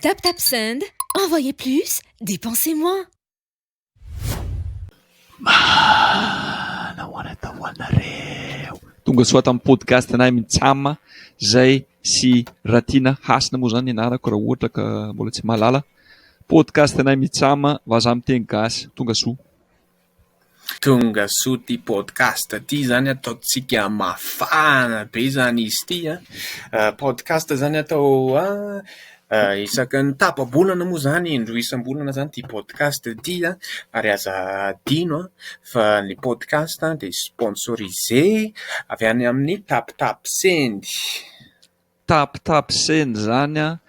Tap tap send, envoyez plus, dépensez moins. Tonga soa tamin'ny podcast anay Mitsam zay sy Ratiana Hasina moa zany anarako raha ohatra ka mbola tsy mahalala. Podcast anay Mitsam, vazaha miteny gasy. Tonga soa. Tongasoa ty podcast ty zany ataontsika mafana be zany izy ty an! Podcast zany atao isaky ny tapa-bolana moa zany indroa isam-bolana zany ty podcast ty an! ary aza adino fa ny podcast dia sponsorisé avy any amin'ny Tapitapsend. Tapitapsena izany an!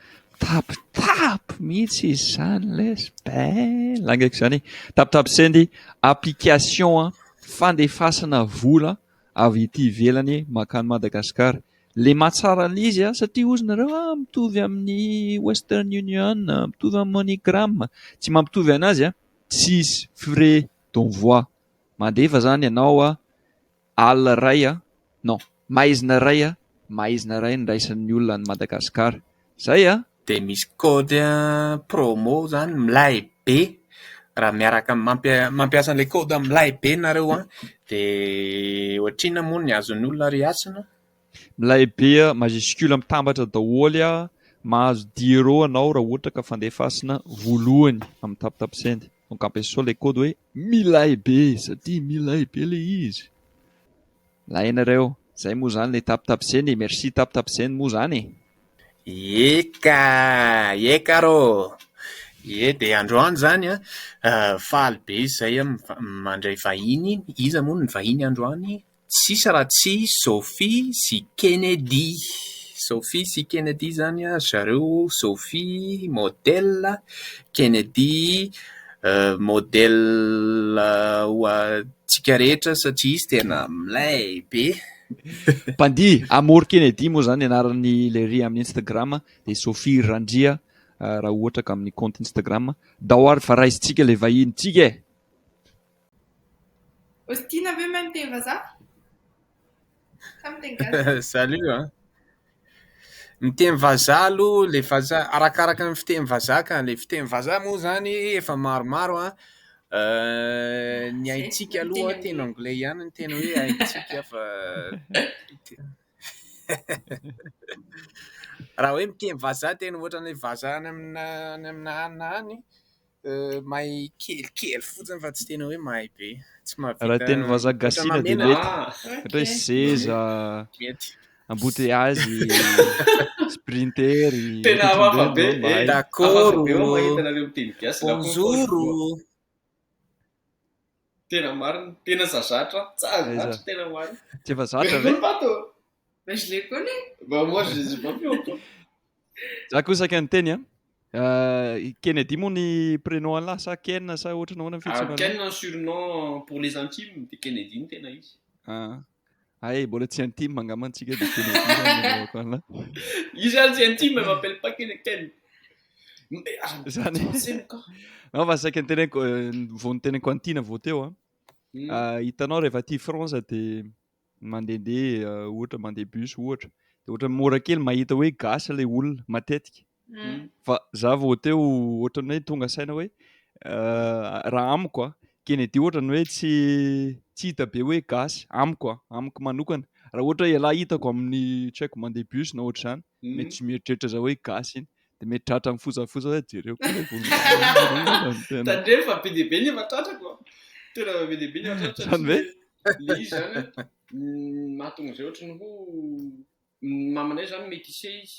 Tapitapy mihitsy izy izany lesy bel angeko izany e! Tapitapseny application fandefasana vola avy ety ivelany mankany Madagasikara. Lemà tsara an'ilay izy an! Satria hozy nareo an! Mitovy amin'ny western union, mitovy amin'ny money gram. Tsy mampitovy anazy an! Tsisy frais d'envoi. Mandefa izany ianao an! Alina iray a! Non, maizina iray a! Maizina iray niraisan'ny olona an'i Madagasikara. Izay a! Dia misy code promo izany milay be, raha miaraka mampiasa an'ilay code milay be nareo an! dia ohatrinona moa ny azon'ny olona reasina? Milay be a! Majuscule mitambatra daholo a! Mahazo diero anao raha ohatra ka fandefasina voalohany amin'ny tapotapisend. Donc ampiasao ilay code hoe milay be satria milay be ilay izy. Milay ianareo. Izay moa izany ilay tapotapisend e! Merci tapotapisend moa izany e! Ie ka! Ie ka rô! Ie dia androany izany an! Faly be izay an! Mandray vahiny. Iza moa ny vahiny androany? Tsisy raha tsy Sophie sy Kennedy. Sophie sy Kennedy izany ry zareo, Sophie modèle, Kennedy modèle ho antsika rehetra satria izy tena milay be. Mpandihy, Amor Kennedy moa izany ny anaran'i Lery amin'ny Instagram, dia Sophie Randria raha ohatra ka amin'ny compte Instagram. Daoary fa raisintsika ilay vahinintsika e! Aussi tiana ve mahay miteny vazaha? Sa miteny gasy? Salut a! Miteny vazaha aloha ilay vazaha, arakaraka ny fiteny vazaha ka. Ilay fiteny vazaha moa izany efa maromaro an! Ny haintsika aloha teny anglais ihany no tena hoe haintsika fa raha hoe miteny vazaha tena ohatran'ilay vazaha any amina any amina any na any Mahay kelikely fotsiny fa tsy tena hoe mahay be. Tsy mahavita. Raha teny vazaha gasina dia mety. Ohatra hoe seza, embouteillage, sprinter. Tena hafahafa be. Dakoro. Bonjour. Tena marina. Tena zazatra. Tsara zatra tena ho ahy. Tsy efa zatra ve? Bah je les connais. Bah moi je les ai pas vus encore. Za koa saika niteny a. Euh, Kennedy moa ny prénom an'lahy sa Ken sa ohatran'ny ahoana ny fihetseham-panahy? Ken no surnom pour les intimes de Kennedy no tena izy. Ah. Ay, mbola tsy intime angamba antsika dia tena idirana ko anla. Io zany tsy intime, elle m'appelle pas Keneken. Zany. Non fa saika nitenenko euh, vao nitenenko antina vao teo an. Hmm. Ah, hitanao rehefa aty France dia mandehandeha euh, ohatra mandeha bus ohatra. Dia ohatra mora kely mahita hoe gasy ilay olona matetika. Fa za vao teo ohatrany hoe tonga saina hoe raha amiko a Kennedy ohatrany hoe tsy tsy hita be hoe gasy amiko a amiko manokana raha ohatra ialahy hitako amin'ny tsy haiko mandeha bus na ohatr'izany mety tsy mieritreritra za hoe gasy iny de mety tratra amin'ny fosafosa hoe jereo tandremo fa be dia be ny efa tratrako tena be dia be ny efa tratrako zany hoe le izy zany mahatonga izay ohatrany ho ny mamanay zany métissé izy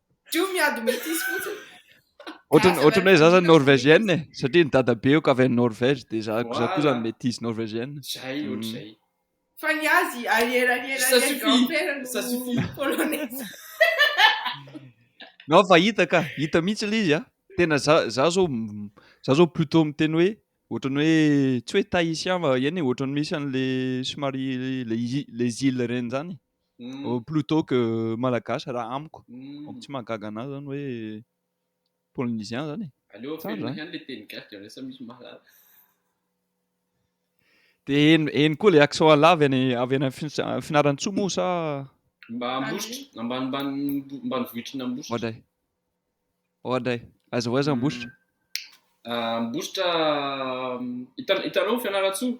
Teo miady metisy fotsiny. Ohatran'ny ohatran'ny hoe za zany norvégienne e, satria ny dadabeoko avy any Norvège dia za za koa zany métisse norvégienne. Zay Mm. ohatr'izay. Fa ny azy arrière arrière Ça arrière suffit. grand-père no Ça suffit. polonais. Non fa hita ka, hita mihitsy ilay izy a. Tena za za zao m- za zao plutôt miteny hoe ohatran'ny hoe tsy hoe tahitien va eny e, ohatran'ny misy an'le somary le i- les îles ireny zany. Plutot que Malagasy raha amiko. Donc tsy mahagaga anah zany hoe Polynesian zany e. Aleo averina ihany le teny gasy dra lasa misy mahalala. De eny eny koa le accent Allah avy any avy any Fianarantsoa moa sa Mba Ambositra, ambanimbany ambanivohitry ny Ambositra. Oadray. Oadray. Aiza ho aiza Ambositra? Ambositra hitanao Fianarantsoa?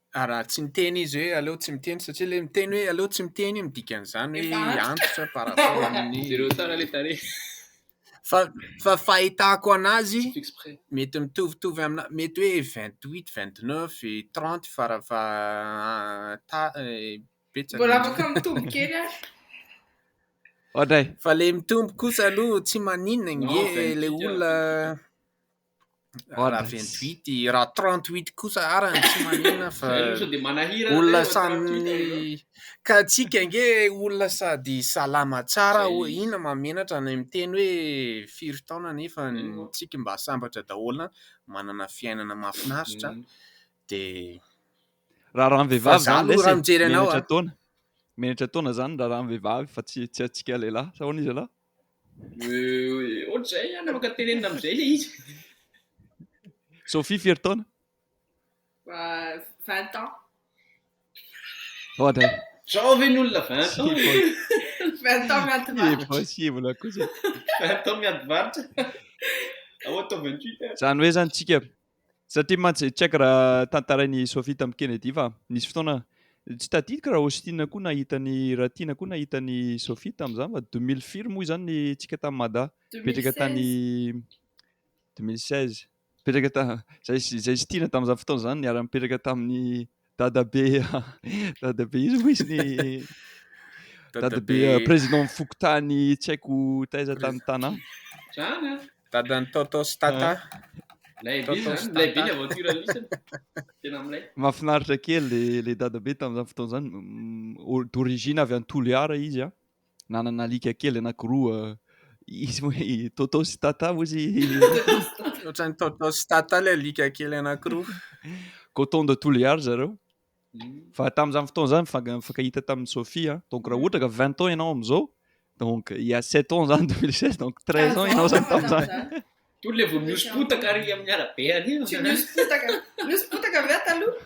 Ary raha tsy miteny izy hoe aleo tsy miteny satria ilay miteny hoe aleo tsy miteny io midika an'izany hoe Efa antitra. antitra par rapport amin'ny Jereo tsara le tarehy. fa fa fahitako anazy Fixe près. mety mitovitovy amina mety hoe vingt huit vingt neuf et trente fara fa ta eh, betsaka Mbola indrindra. afaka mitombo kely ary. Ohatra e. Fa le mitombo kosa aloha tsy maninona Non, nge vingt le huit olona Raha 28 i, raha 38 kosa ara ny tsy manina fa olona samy ka antsika ange olona sady salama tsara ina mahamenatra ny miteny hoe firy taona nefa ny antsika mba sambatra daholo manana fiainana mahafinaritra dia raharaha ny vehivavy zany lesy e, menatra taona menatra taona zany raharaha ny vehivavy fa tsy tsy antsika lehilahy sa ahoana izy ialahy? Euh, ohatr'izay an, afaka tenenina amin'izay le izy. Sophie firy taona? Euh, 20 ans. Ohatra. Zao ve ny olona 20 ans? 20 ans miady varitra. Possible akosa. 20 ans miady varitra. Ao atao 28 an. Zany hoe zany tsika Satria mantsy, tsy haiko raha tantarain'i Sophie tamin'i Kennedy fa nisy fotoana, tsy tadidiko raha Austin koa nahita an'i Ratiana koa nahita an'i Sophie tamin'izany fa deux mille firy moa izany ny tsika tamin'i Mada, nipetraka tany deux mille seize, nipetraka ta, izay sy izay sy Tiana tamin'izany fotoana izany niara-nipetraka tamin'i Dadabe Dadabe izy moa izy ny Dadabe euh, président ny fokontany tsy haiko taiza tany tanà. Zany an. Dadan'ny Toto sy Tata. Lay be Toto zany, sy lay be ny Tata. aventure lisany. Tena amin'ilay. Mahafinaritra kely le le Dadabe tamin'izany fotoana izany. Mm, o- D'origine avy any Toliara izy a. Nanana alika kely anankiroa izy hoe Toto sy Tata moa izy. Ohatran'ny Toto sy Tata ilay alika kely anankiroa. Coton de tous les âges zareo. Fa tamin'izany fotoana izany mifank- mifankahita tamin'i Sophie a. Donc raha ohatra ka 20 ans ianao amin'izao, donc il y a 7 ans izany 2016, donc 13 ans ianao izany tamin'izany. Toy ilay vao nihoso-potaka ary amin'ny arabe ary. Tsy nihoso-potaka. Nihoso-potaka ve aho taloha?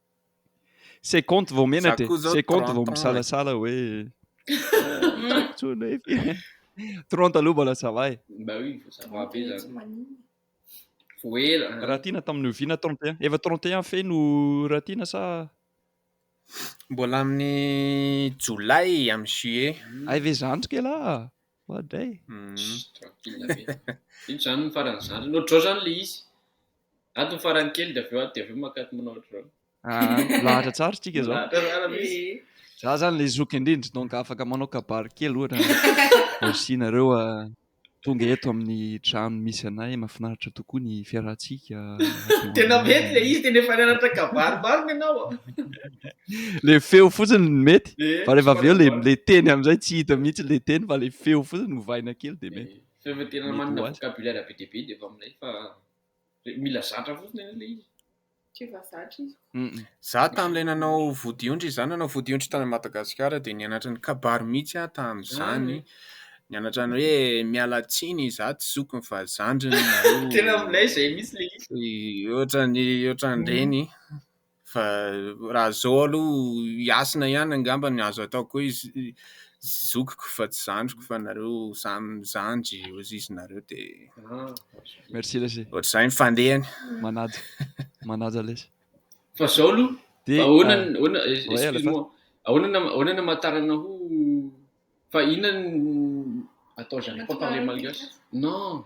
C'est compte vao mena de c'est compte vao misalasala hoe tsony hoe 30 aloha mbola ça va e. Bah oui, faut savoir be zany. Faut ela. Raha tiana tamin'ny oviana 31? Efa 31 fey no raha tiana sa Mbola amin'ny jolay amin'ny juillet. Hay ve zandry kely ah. Oadray. Tranquille be. Ino zany ny faran'ny zandry? Nodrao zany le izy. Ato farany kely dia avy eo ato dia avy eo maka ato manao ohatr'izao. Ah, lahatra tsara tsika izao. Lahatra tsara misy. Eh. Za zany le zoky indrindra donc afaka manao kabary kely ohatra. Merci nareo ah, tonga eto amin'ny trano misy anay mafinaritra tokoa ny fiarahantsika. Tena mety le izy tena efa nianatra kabary marina ianao. Ah. Le feo fotsiny ny mety. Eh, fa rehefa avy eo le le teny amin'izay tsy hita mihitsy le teny fa le feo fotsiny ovaina kely dia mety. Eh, feo tena manana vocabulaire be dia be dia efa aminay fa Mila zatra fotsiny anie ilay izy. K'efa zatra izy. Mm. Za tamin'ilay nanao vodiondry, za nanao vodiondry tany Madagasikara dia nianatra ny kabary mihitsy aho tamin'izany. Ah, Nianatra ny hoe miala tsiny, za tsy zokiny fa zandriny nareo. Tena milay izay mihitsy ilay izy. Ohatran'ny ohatran'ireny. Fa raha zao aloha Hasina ihany angamba no azo atao koa izy zokiko fa tsy zandriko fa nareo samy mizandry ozizy nareo de Merci lesy. ohatr'izay ny fandehany. Manaja. Manaja lesy. Fa zao aloha Dia ahoana ny ahoana eh, ouais, à la excuse fin. moi ahoana ny ahoana ny hamatarana ho fa inona ny attends j'arrive pas à parler malgache non.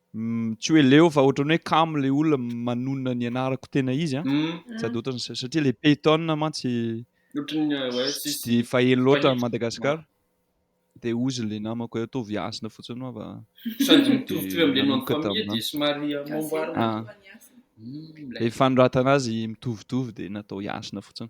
Tsy hoe leo fa ohatran'ny hoe kamo ilay olona manonona ny anarako tena izy an. Sady ohatran'ny satria ilay Payton mantsy tsy dia faheno loatra an'i Madagasikara. Dia hozy ilay namako hoe ataovy hasina fotsiny hoa fa. Sady mitovitovy amin'ilay nom de famille dia somary amboamboarina. Ilay fanoratana azy mitovitovy dia natao hasina fotsiny.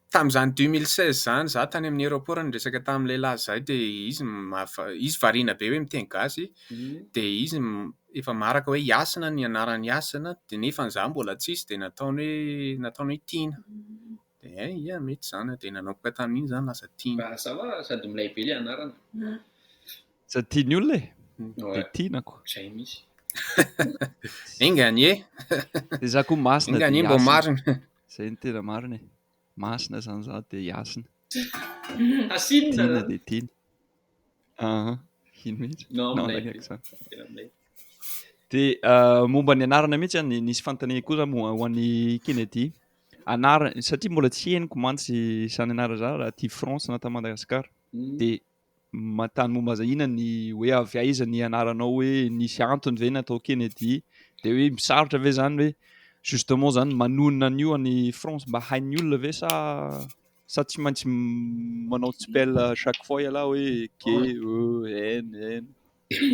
Tamin'izany deux mille seize izany izaho tany amin'ny aéroport no niresaka tamin'ny lehilahy izay dia izy izy variana be hoe miteny gasy dia izy efa maraka hoe Yasina ny anarany Yasina dia nefa izaho mbola tsisy dia nataony hoe nataony hoe Tiana dia hay ia mety izany dia nanomboka tamin'iny izany lasa Tiana. Mba hazava fa sady milay be ilay anarana. Sady tian'ny olona e! Dia Tiana ko. Izay mihitsy. Enga anie! Dia izaho koa masina dia Yasina. Enga anie mba ho marina. Zay no tena marina e. Masina zany za de iasina. Asinina Tiana zany. de tiana. Aha. Ino mihitsy? Non, Non, milay be. nahaiky zany. Tena milay. De ah, momba ny anarana mihitsy ah, ny- nisy fanontaniana koa za mo- ho an'i Kennedy. Anarana, satria mbola tsy henoko mantsy izany anarana izany raha aty France na tany Madagasikara. Mm. De manontany momba aza inona ny hoe avy aiza ny anaranao hoe nisy antony ve natao Kennedy dia hoe misarotra ve zany hoe justement zany manonona an'io any France mba hain'ny olona ve sa sa tsy maintsy manao tsipel chaque fois ialahy hoe K E N N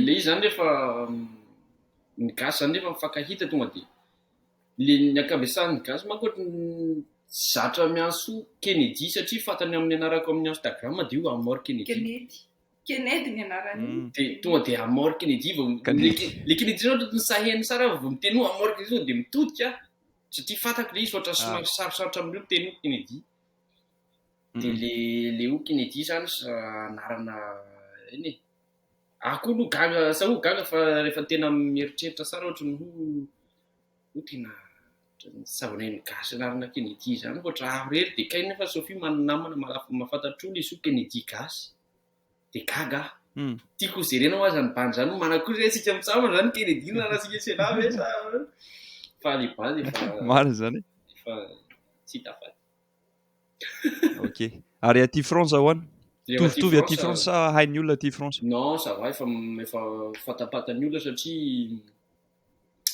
le izy zany rehefa ny gasy zany rehefa mifankahita tonga dia Le ny ankabesan'ny gasy manko ohatry ny tsy zatra miantso Kennedy satria fantany amin'ny anarako amin'ny Instagram dia hoe Amor Kennedy. Kennedy. Kennedy ny anarany. Mm. Dia tonga dia Amor Kennedy vao Kennedy. Le Kennedy zany ohatry ny sahen'ny sara vao miteny hoe Amor Kennedy tonga dia mitodika satria fantako le izy ohatry ny somary sarosarotra amin'ireo miteny hoe Kennedy. Dia Mm. le le hoe Kennedy zany sa anarana eny e. Aho koa aloha gaga sa ho gaga fa rehefa tena mieritreritra sara ohatry ny hoe Koa tena zava-miainga gasy ianarana Kennedy izany fa ohatra aho irery dia kay nefa Sophie manana namana marary fa mahafantatra olona izy koa Kennedy gasy dia gaga aho Tiako ho jerena ho'aho izany bandy izany Omana koa izay isika mitsambana izany Kennedy nanasin'i Sena ve sa fa le bandy efa marina izany efa tsy hita afatsy Ok ary aty France ahoana Mitovitovy aty France sa hain'ny olona aty France Non ça va efa efa fantapantany olona satria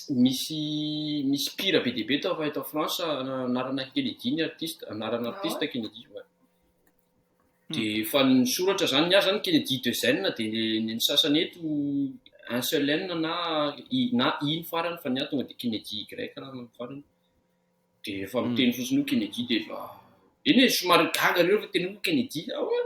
misy misy pire be dia be tao fa eto France anarana Kennedy ny artiste anarana artiste Kennedy ouais. de fa ny soratra zany ny azy zany Kennedy de Zen de ny sasany eto un seul N na i na i ny farany fa ny ahy tonga de Kennedy Y raha ny farany de efa miteny fotsiny hoe Kennedy de efa eny e somary gaga reo fa tena hoe Kennedy ah ouais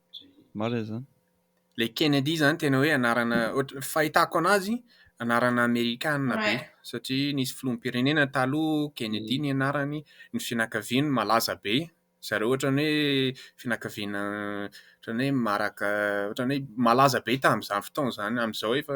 Marina izany. Ilay Kennedy izany tena hoe anarana, ohatra, fahitako an'azy, anarana amerikanina be. Satria nisy filoham-pirenena taloha Kennedy ny anarany, ny fianakaviany malaza be. Ry zareo ohatran'ny hoe fianakaviana ohatran'ny hoe maraka, ohatran'ny hoe malaza be tamin'izany fotoana izany. Amin'izao efa.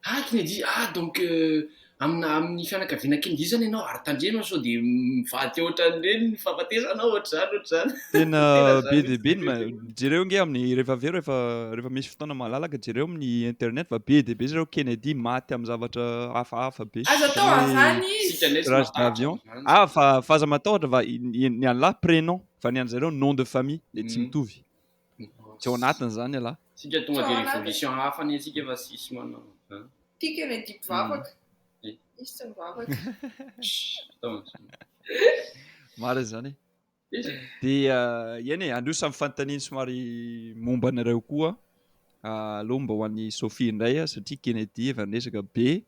Aky ny dia, ah donc amina amin'ny fianakaviana kely dia izany ianao ary tandremo sao dia mivady ohatran'ireny ny fahafatesanao ohatr'izany ohatr'izany. Tena be dia be ny, jereo nge amin'ny rehefa avy eo rehefa rehefa misy fotoana malalaka jereo amin'ny internet fa be dia be zareo Kennedy maty amin'ny zavatra hafahafa be. Aza atao avana izy. Crash d'avion. Ah fa fa aza matahotra fa ny an'lah prénom fa ny an'zareo nom de famille le tsy mitovy. Teo anatiny izany ialahy. Isika tonga dia révolution hafa anie isika fa tsisy manao an. Tiako ilay didy vavaka. Izy tsy mivavaka. Marina izany. Dia eny e, aleo samy fanontaniany somary momba anareo koa. Aleo mba ho an'i Sophie indray satria Kennedy efa niresaka be.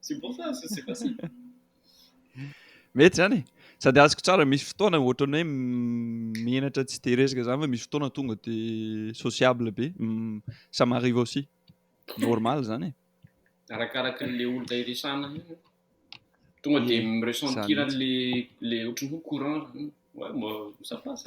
C'est bon ça, ça c'est facile. Mety zany e. Sady azoko tsara misy fotoana ohatran'ny hoe menatra tsy dia resaka zany fa misy fotoana tonga dia sociable be. Ça m'arrive aussi. Normal zany e. Arakaraka le olona iresana io. Tonga dia miresentiran'le le ohatran'ny hoe courant. Ouais, moi, ça passe.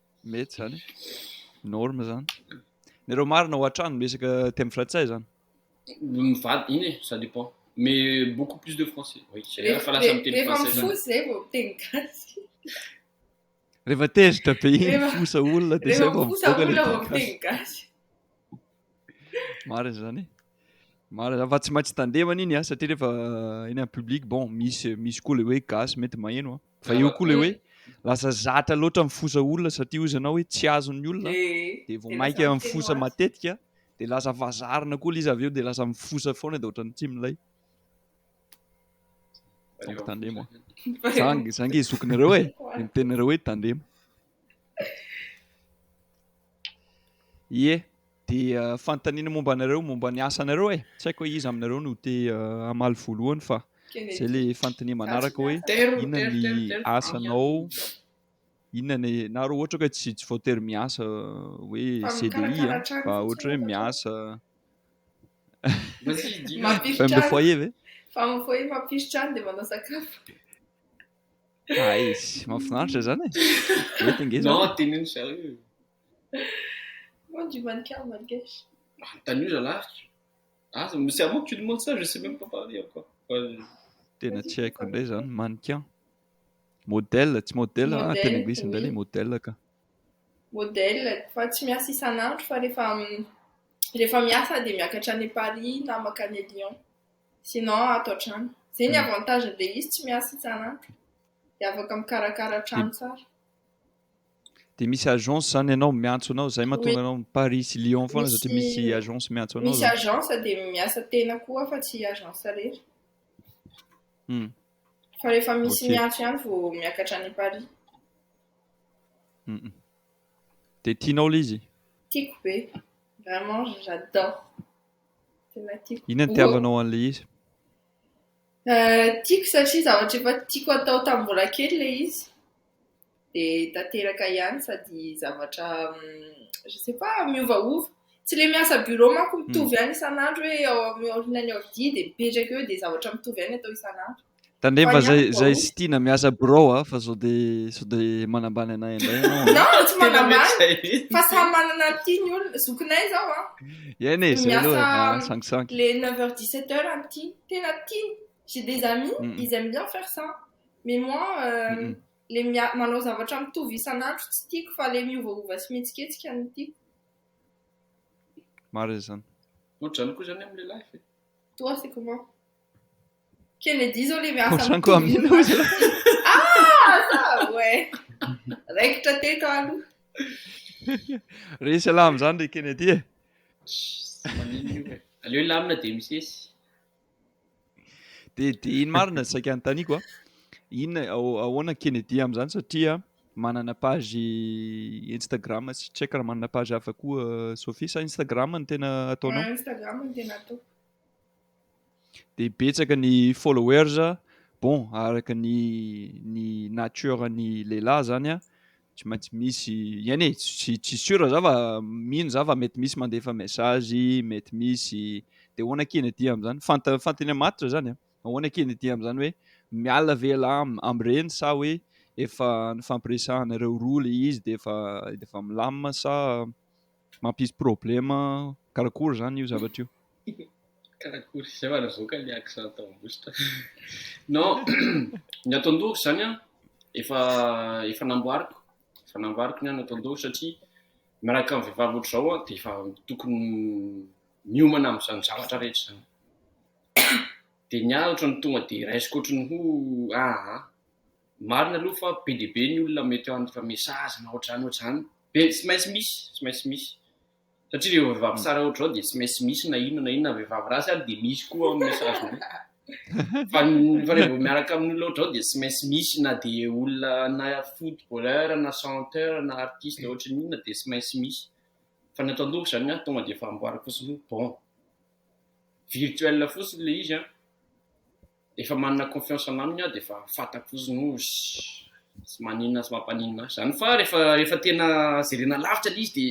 Mety zany e. Norme zany. Nareo marina ao an-trano miresaka teny frantsay zany. Mivady iny e, ça dépend. Mais beaucoup plus de français. Oui, c'est vrai fa lasa miteny Rehefa français zany. mifosa izay vao miteny gasy. Rehefa tezitra be iny Rehefa- mifosa olona dia Rehefa izay vao mifosa mivoaka olona ilay vao teny gasy. miteny gasy. Marina zany. Marina fa tsy maintsy tandema an'iny ah satria rehefa eny amin'ny public bon misy misy koa le hoe gasy mety maheno ah. Fa eo koa le hoe lasa zatra loatra mifosa olona satria ozy anao hoe tsy azon'ny olona de vao maika mifosa matetika de lasa vazarina koa l'izy avy eo de lasa mifosa foana de ohatran'ny tsy milay. Donc tandema. Zany zany ke zokinareo e. Ny teninareo hoe tandema. Ie, dia fanontaniana momba anareo, momba ny asanareo e! Tsy haiko hoe iza aminareo no te hamaly voalohany fa izay ilay fanontaniana manaraka hoe inona ny asanao, inona ny, na raha ohatra ka tsy tsy voatery miasa hoe CDI a, fa ohatra hoe miasa femme de foyer ve? Femme de foyer mampiry trano dia manao sakafo. Aiz, mahafinaritra izany e. Mety nge izany. Non, teneno zareo. Moi, du mannequin malgache. Manontany io zalahy. Ah, c'est à moi que tu demandes ça, je sais même pas parler encore. Tena tsy haiko indray izany, mannequin. Modèle, tsy modèle, ah, tena anglisy indray ilay modèle ka. Modèle, fa tsy miasa isan'andro fa rehefa rehefa miasa dia miakatra any Paris na makany Lyon. Sinon ato an-trano. Izay ny avantage be izy tsy miasa isan'andro. Dia afaka mikarakara trano tsara. Dia misy agence izany ianao miantso anao, izay mahatonga anao Paris sy Lyon foana satria misy agence miantso anao. Misy agence dia miasa tena koa fa tsy agence irery. Hmm. Fa rehefa misy miantso ihany vao miakatra any Paris. Dia tianao ilay izy? Tiako be. Vraiment, j'adore. Inona ny tiavanao an'ilay izy? Eh, tiako satria zavatra efa tiako atao tamin'ny mbola kely ilay izy. Dia tanteraka ihany sady zavatra je ne sais pas, miovaova. Tsy ilay miasa bureau manko mitovy ihany isan'andro hoe ao amin'ny aorianan'ny aody dia mipetraka eo dia zavatra mitovy ihany atao isan'andro. Tandreva zay zay tsy tiana miasa birao a fa zao de sao de manambany anay indray ianao. Non, non, tsy manambany. Zay mihitsy. Fa samy manana ny tiany olona. Zokinay zao a. Eny e, zay aloha Miasa ah, sangisangy. le 9 heures 17 heures amin'ny tiany. Tena tiany. J'ai des amis, Mm, mm. ils aiment bien faire ça. Mais moi, euh, Mm, mm. le mia- manao zavatra mitovy isan'andro tsy tiako fa le miovaova sy mihetsiketsika no tiako. Marina izany. Ohatr'izany koa izany amin'ny lehilahy. Toi, c'est comment? Kennedy izao ilay miasa Ohatran'ny koa amin'ny amin'ny loza. Ah, ça, ouais. Raikitra teto aloha. Resy alamo zany ry Kennedy e. Maninona io e. Aleo hilamina dia misesy. Dia dia iny marina saika anontaniako a. Inona ao- ahoana Kennedy amin'izany satria manana page Instagram sy tsy haiko raha manana page hafa koa Sophie sa Instagram no tena ataonao? Ah, Instagram no tena ataoko. dia betsaka ny followers bon araka ny ny nature ny lehilahy zany an tsy maintsy misy iany e tsy tsy sure za fa mino za fa mety misy mandefa message mety misy dia ahoana akia ny aty amin'izany fanta fantany amatitra zany an ahoana akia ny aty amin'izany hoe miala ve ialahy amin'ireny sa hoe efa nifampiresahanareo roa ilay izy dia efa dia efa milamina sa mampisy problème karakory zany io zavatra io? Karakory? Zay vao navoaka le accent tao ambositra. Non, ny ato an-dohako zany an, efa efa namboariko, efa namboariko ny an ato an-dohako satria miaraka amin'ny vehivavy ohatr'izao an, dia efa tokony miomana amin'izany zavatra rehetra izany. Dia ny ahy ohatrany tonga dia raisiko ohatrany ho ah, Marina aloha fa be dia be ny olona ametrahany fa message na ohatr'izany ohatr'izany dia tsy maintsy misy, tsy maintsy misy satria ireo vehivavy tsara ohatr'izao dia tsy maintsy misy na inona na inona, vehivavy ratsy ary dia misy koa amin'ny message-nao fa ny fa revo miaraka amin'ny olona ohatr'izao dia tsy maintsy misy na dia olona na footballeur na chanteur na artiste ohatry ny inona dia tsy maintsy misy fa ny ato an-dohako izany an tonga dia efa amboariko fotsiny hoe bon virtuel fotsiny ilay izy an. Rehefa manana confiance an aminy aho de efa fatako izy no sy maninona sy mampaninona ahy zany fa rehefa rehefa tena jerena lavitra le izy de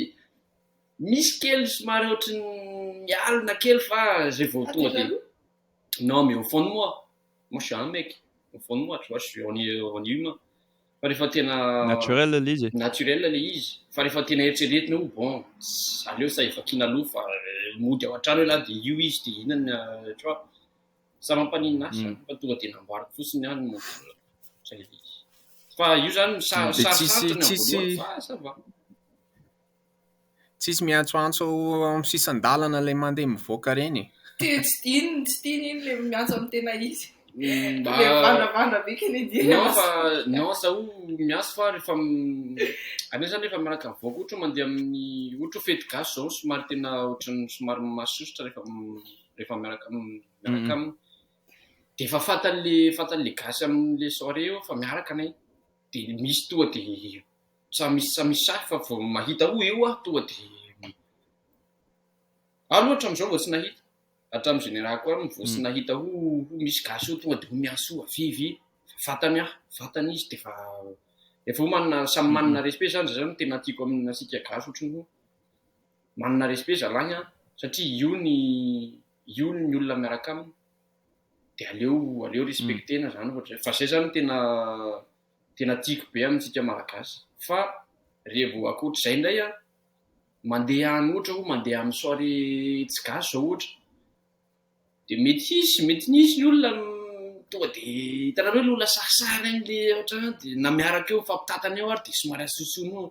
misy kely somary ohatry ny mialona kely fa zay vao tonga de non mais au fond de moi moi je suis un mec au fond de moi tu vois je suis on est on est humain fa rehefa tena Naturel le izy e. naturel le izy fa rehefa tena eritreretina hoe bon aleo sa efa kiana aloha fa mody ao an-trano elah de io izy de inona tu vois Za mampaninona asa Mm. fa tonga de namboariko fotsiny aho ny montage. Zay le izy. Fa io zany sa- Mm, de tsisy- sarosarotra ny amin'ny tsisy- voalohany fa ça va. Tsisy miantsoantso ao amin'ny sisan-dalana ilay mandeha mivoaka ireny e. Te- Tsy tiany, tsy tiany iny le miantso amin'ny tena izy. Mm, mba- Le vandravandra be Kennedy. Non fa non zaho miantso fa rehefa m- anay zany rehefa miaraka mivoaka ohatra hoe mandeha amin'ny ohatra hoe fety gasy zao somary tena ohatran'ny somary masosotra rehefa m- rehefa miaraka aminy miaraka aminy de efa fantany le fantany le gasy aminy le soirée eo fa miaraka anay de misy toa de samy misy samy misy sahy fa vao mahita o eo aho toa de aho aloha hatramin'izao vao tsy nahita hatramin'ny général koa vao tsy nahita ho ho misy gasy eo toa de ho miasy o avia avia fantany aho fantany izy de efa efa ho manina samy manina respect zany zany tena tiako aminy asika gasy ohatry ny hoe Manana respect zalahy an, satria io ny io ny olona miaraka aminy de aleo aleo respectena zany ohatra zay, fa zay zany tena tena tiako be amintsika malagasy, fa re vao akoatr'izay ndray an, mandeha any ohatra hoe mandeha any soirée tsy gasy zao ohatra, de mety hisy mety nisy ny olona tonga de hitanareo le olona sarisary any le ohatra hoe na miaraka eo mifampitatana eo ary de somary asosonoana.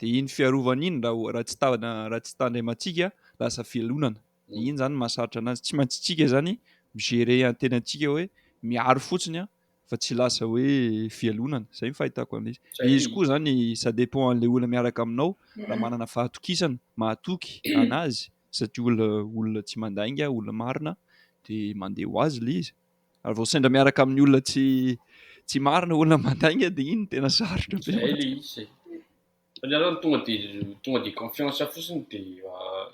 Dia iny fiarovana iny raha tsy raha tsy tandremo antsika lasa fialonana. Dia iny izany no mahasarotra anazy. Tsy maintsy tsika izany mi-gerer ny tenantsika hoe miaro fotsiny an, fa tsy lasa hoe fialonana. Izay ny fahitako an'izy. Dia izy koa izany ça dépend an'ilay olona miaraka aminao raha manana fahatokisana, mahatoky anazy satria olona olona tsy mandainga, olona marina dia mandeha ho azy ilay izy. Ary vao sendra miaraka amin'ny olona tsy tsy marina olona mandainga dia iny tena sarotra be. Zay le izy e. Fa ny anao tonga de tonga de confiance fotsiny de ah,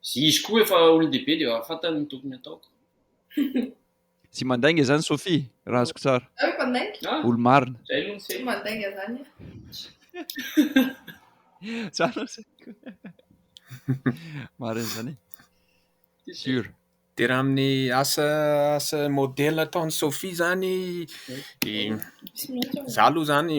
zy izy koa efa olon-dehibe de efa fantany ny tokony ataoko. Tsy mandainga izany Sophie, raha azoko tsara. Za hoe mpandainga? Ah, Olo-marina. zay aloha ny Tsy sehatra. mandainga zany ah. Tsara izay. Marina izany e. Sûr. Dia raha amin'ny asa asa modèle ataon'i Sophie izany, izaho aloha izany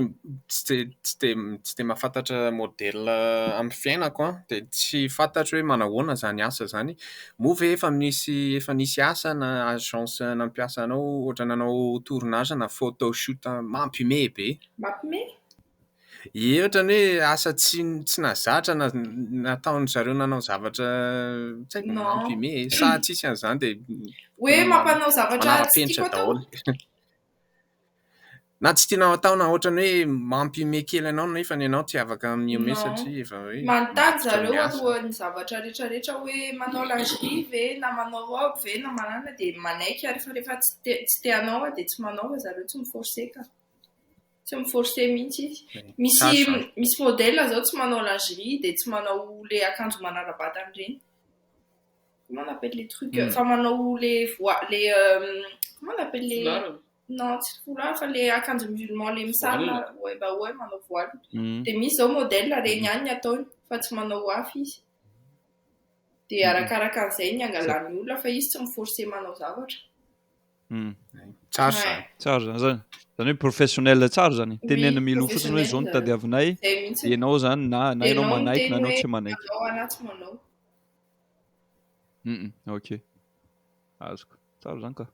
tsy dia tsy dia tsy dia mahafantatra modèle amin'ny fiainako an, dia tsy fantatro hoe manao ahoana izany asa izany. Moa ve efa misy efa nisy asa na agence nampiasa anao ohatra nanao tournage na photo shoot mampiomehy be? Mampiomehy? Ohatra ny hoe asa tsy tsy nahazatra na nataon-dry zareo nanao zavatra tsy haiko Non. imprimé e, sa tsisy an'izany dia Hoe mampanao zavatra tsy manara-penitra tiako atao. daholo. Na tsy tianao atao na ohatra ny hoe mampihomehy kely anao nefa ny anao tsy afaka mihomehy Non. satria efa hoe Manontany miaritra zareo amin'ny asa. alohan'ny zavatra rehetrarehetra hoe manao lingerie ve na manao robe ve na manana dia manaiky ary fa rehefa tsy te tsy te hanao aho dia tsy manao fa zareo tsy mi-forcer ka. Tsy mi forcer mihitsy izy. Misy misy modèle zao tsy manao lingerie dia tsy manao le akanjo manara-batana ireny. Comment on appelle les trucs euh, fa manao le voile le euh, comment on appelle les Foulard. non tsy foulard fa le akanjo musulman le misarona ouais bah ouais manao voile. Mm. Dia misy zao modèle reny ihany ny ataony fa tsy manao hafa izy. Dia arakaraka an'izay ny angalan'ny olona fa izy tsy mi forcer manao zavatra. Hmm. Tsara zany. Tsara zany zany. Zany hoe professionnel tsara zany. Tenena milo fotsiny hoe zao no tadiavinay. Ianao zany na na ianao manaiky na ianao tsy manaiky. Ianao anaty manao. Mm, ok. Azoko. Tsara zany ka.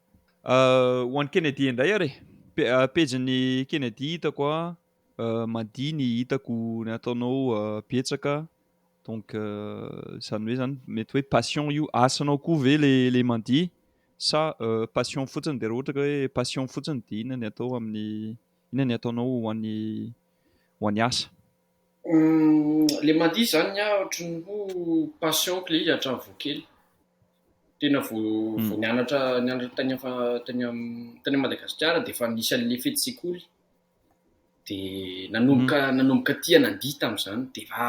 Euh, ho an'i Kennedy indray ary. Euh, pejin'ny Kennedy hitako a. Euh, Madi ny hitako ny ataonao betsaka. Donc zany hoe zany mety hoe passion io. Asanao koa ve le le Madi? Sa passion fotsiny dia raha ohatra ka hoe passion fotsiny dia inona ny atao amin'ny inona ny ataonao ho an'ny ho an'ny asa? Ilay mandihy izany ny ahy ohatran'ny hoe passion-ko ilay izy hatramin'ny vao kely. Tena vao vao nianatra nianatra tany tany tany Madagasikara dia efa nisy an'ilay fetin-tsekoly dia nanomboka nanomboka tia nandihy tamin'izany dia efa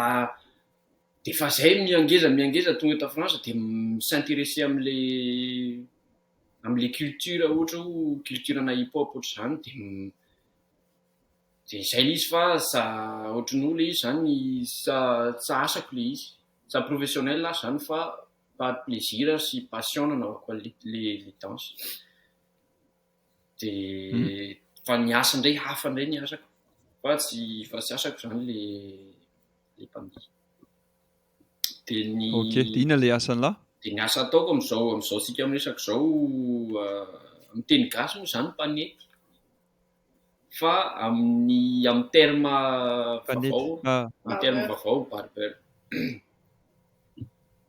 Dia fa zay miangeza miangeza tonga eto France dia mi s'intéresser amle amle culture ohatra hoe culture ana hip hop ohatra zany dia dia zay le izy fa za ohatry ny hoe le izy zany sa tsa asako le izy tsa professionnel aho zany fa par plaisir sy passion no anaovako anle le danse dia fa ny asa ndray hafa ndray ny asako fa tsy fa tsy asako zany le ilay mpamily. Dia ny... Ok, dia inona ilay asan'lah? Dia ny asa ataoko amin'izao, amin'izao tsika miresaka izao, uh, amin'ny teny gasy moa izany mpanety. Fa amin'ny, amin'ny terme vavao, ah. amin'ny terme vavao, barber.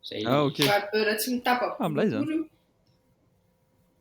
Zay. Ah, ok. Barber tsy mitapa. Ah, milay izany.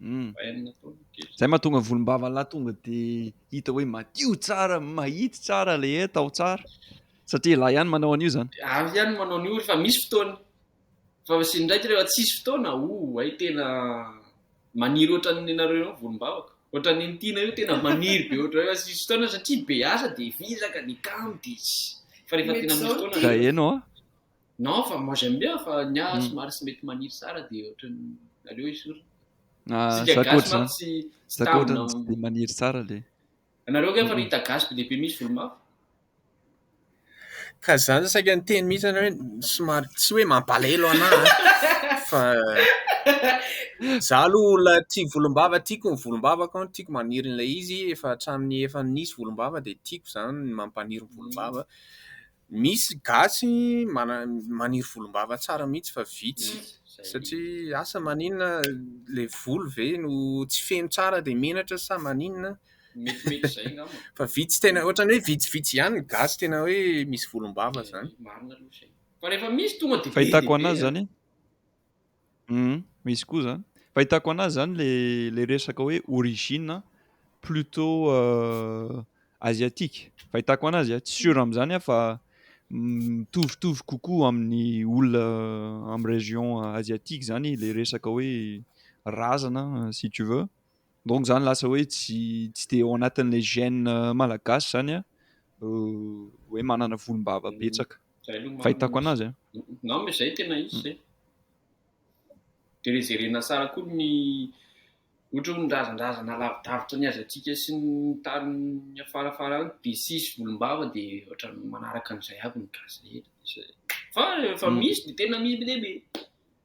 Hmm. Zay mahatonga volombavan'lah tonga de hita hoe madio tsara, mahitsy tsara le e, tao tsara. Satria lahy ihany manao an'io zany. Avy ihany manao an'io fa misy fotoana. Fa sy ndraiky rehefa tsisy fotoana, o, hay tena maniry ohatran'ny nareo eo volombavako. Ohatran'ny ntiana io tena maniry be ohatran'ny hoe tsisy fotoana satria be asa de vizaka ny kamo de fa rehefa tena misy fotoana. Ka eno a. Non fa moi j'aime bien fa ny ahy somary tsy mety maniry tsara dia ohatran'ny aleo esorina. Ah, Sika gasy zakoatra manko zany. tsy tsy Zakoatra tambina. ny tsy dia maniry tsara le. Ianareo ange efa ry hita gasy be dia be misy volo mavo. Ka zany saika niteny mihitsy ianao hoe somary tsy hoe mampalahelo anah an, fa za aloha olona tia volombava, tiako ny volombavako an, tiako maniry an'ilay izy, efa hatramin'ny efa nisy volombava dia tiako zany ny mampaniry ny volombava. Misy gasy maniry volombava tsara mihitsy fa vitsy satria asa maninona ilay volo ve no tsy feno tsara dia menatra sa maninona fa vitsy tena ohatran'ny hoe vitsivitsy ihany ny gasy tena hoe misy volombava izany. Fahitako an'azy izany. Humm misy koa zany. Fahitako anazy zany le le resaka hoe origine plutot asiatique. Fahitako anazy tsy sûr amzany aho fa mitovitovy kokoa amin'ny olona amin'ny region asiatique zany le resaka hoe razana si tu veux. Donc izany lasa hoe tsy tsy dia ao anatin'ilay gène malagasy izany an, hoe manana volombava betsaka. Izay aloha fahitako anazy an. Non mais izay tena izy izay. Dia rejerena tsara koa ny ohatra hoe ny razandrazana lavidavitra ny aziatika sy ny tany afarafara any be sisy volombava dia ohatran'ny manaraka an'izay aby ny gasy rehetra. Fa efa misy dia tena misy be dia be.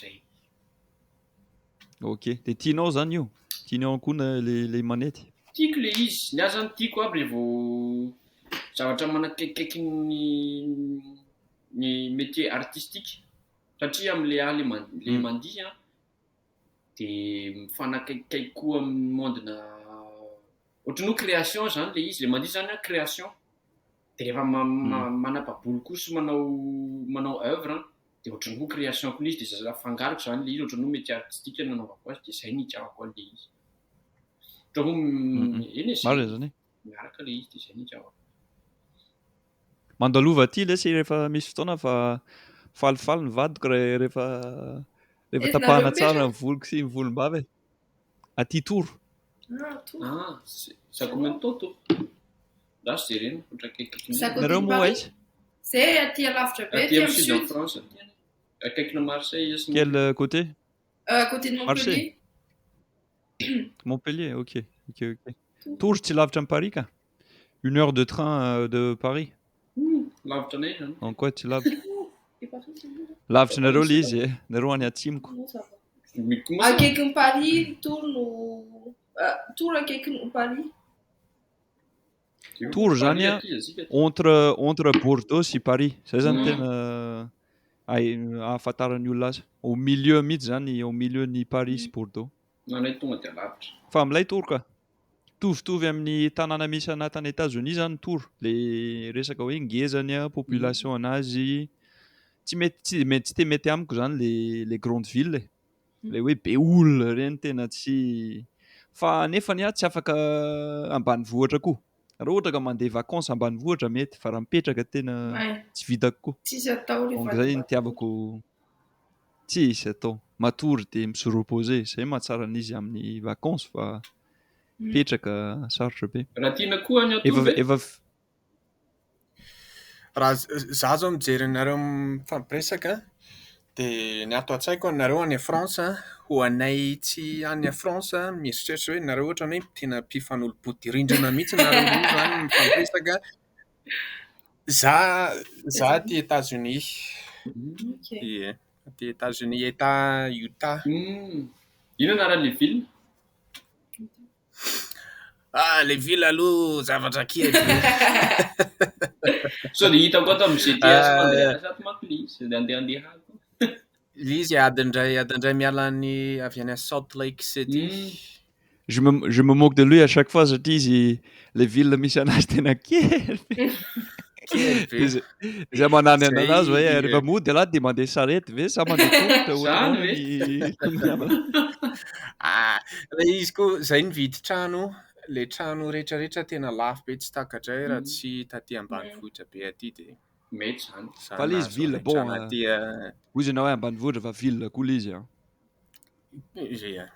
Zay. Ok, de tianao zany io? Tianao ihany koa na le le manety? Tiako le izy, ny ahy zany tiako aby le vao zavatra manakaikikaiky ny ny métier artistique satria amle ahy le man- le Mm. mandihy an de mifanakaikikaiky koa amin'ny monde-na ohatran'ny hoe création zany le izy, le mandihy zany an création. de rehefa manababoly koa sy manao manao oeuvre an de ohatran'ny hoe création ko le izy de zay afangaroko zany le izy ohatran'ny hoe métier artistique nanaovako azy de zay ny itiavako anle izy ohatran'ny hoe eny e zay miaraka le izy de zay ny itiavako mandalova aty lesy rehefa misy fotoana fa falifaly ny vadiko rehefa rehefa tapahana tsara ny voloko sy ny volombava e aty tour. Nareo moa aiza? Quel côté? Marseille? Montpellier, ok. Tours tsy lavitra an'i Paris ka. Une heure de train euh, de Paris Lavitra anay izany. En quoi tsy lavitra? Lavitra nareo le izy eh. Nareo any atsimoko. Mikoma. Akaikin'i Paris, ny tour no ah, tour akaikin'i Paris. Tour zany a, Aty, azika. entre entre Bordeaux sy Paris. Zay zany Mm. tena ay ahafantaran'ny olona azy. Au milieu mihitsy zany, au milieu ny Paris sy Bordeaux. Anay tonga dia lavitra. Fa milay tour ka. Mitovitovy amin'ny tanàna misy ana tany Etazonia zany tour le resaka hoe ngeza ny population anazy tsy mety tsy mety tsy te mety amiko zany le le grande ville e. le hoe be olona ireny tena tsy fa nefa ny ahy tsy afaka ambanivohitra koa raha ohatra ka mandeha vacances ambanivohitra mety fa raha mipetraka tena tsy vitako koa donc zay ny tiavako Tsy izy atao. Matory dia mi se reposer. Izay no mahatsara an'izy amin'ny vacances fa mipetraka sarotra be. Raha tiana koa ny hatory ve? Efa, efa. Raha izaho izao mijery anareo mifampiresaka dia ny ato an-tsaiko anareo any France an, ho anay tsy any France mieritreritra hoe nareo ohatran'ny hoe tena mpifanolo-bodirindrina mihitsy nareo roa izany mifampiresaka. Za za aty Etazonia. Ye, aty Etazonia, Etat Utah. Inona anaran'le ville? Ah, le ville aloha zavatra kely. Sao dia hitako ato amin'ny GTS fa andeha hiasa ato manko le izy, dia andeha handeha any koa. Ilay izy adiny iray adiny iray miala any avy any Salt Lake City. Je me, je me moque de lui à chaque fois satria izy le ville misy anazy tena kely be. Kely be. Izy izy manany Zay, anazy hoe eh, rehefa mody ialahy dia mandeha sarety ve sa mandeha tongotra Zany ohatranao ve? ny tombony Ah, ilay izy koa zay nividy trano, le trano rehetrarehetra tena lafo be tsy takatray raha tsy taty ambanivohitra be aty dia. Mety zany. Fa le izy ville bon. Hoy izy anao ambanivohitra fa ville koa le izy an. Izay ihany.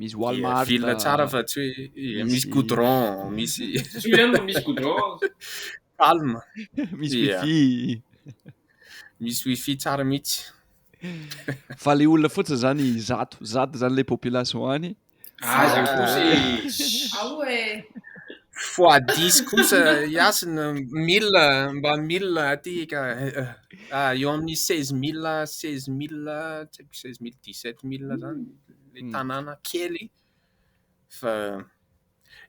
Misy Walmart. Ville tsara fa tsy hoe misy goudron, misy. Tsy hoe no misy goudron. Calme. Misy wifi. Misy wifi tsara mihitsy. Fa le olona fotsiny zany zato, zato zany le population any. Aza kosa e. Ao e. Fois 10 kosa Yasina mila mba mila aty ka ah, eo amin'ny 16000 16000 tsy haiko 16000 17000 zany le hmm. tanàna kely fa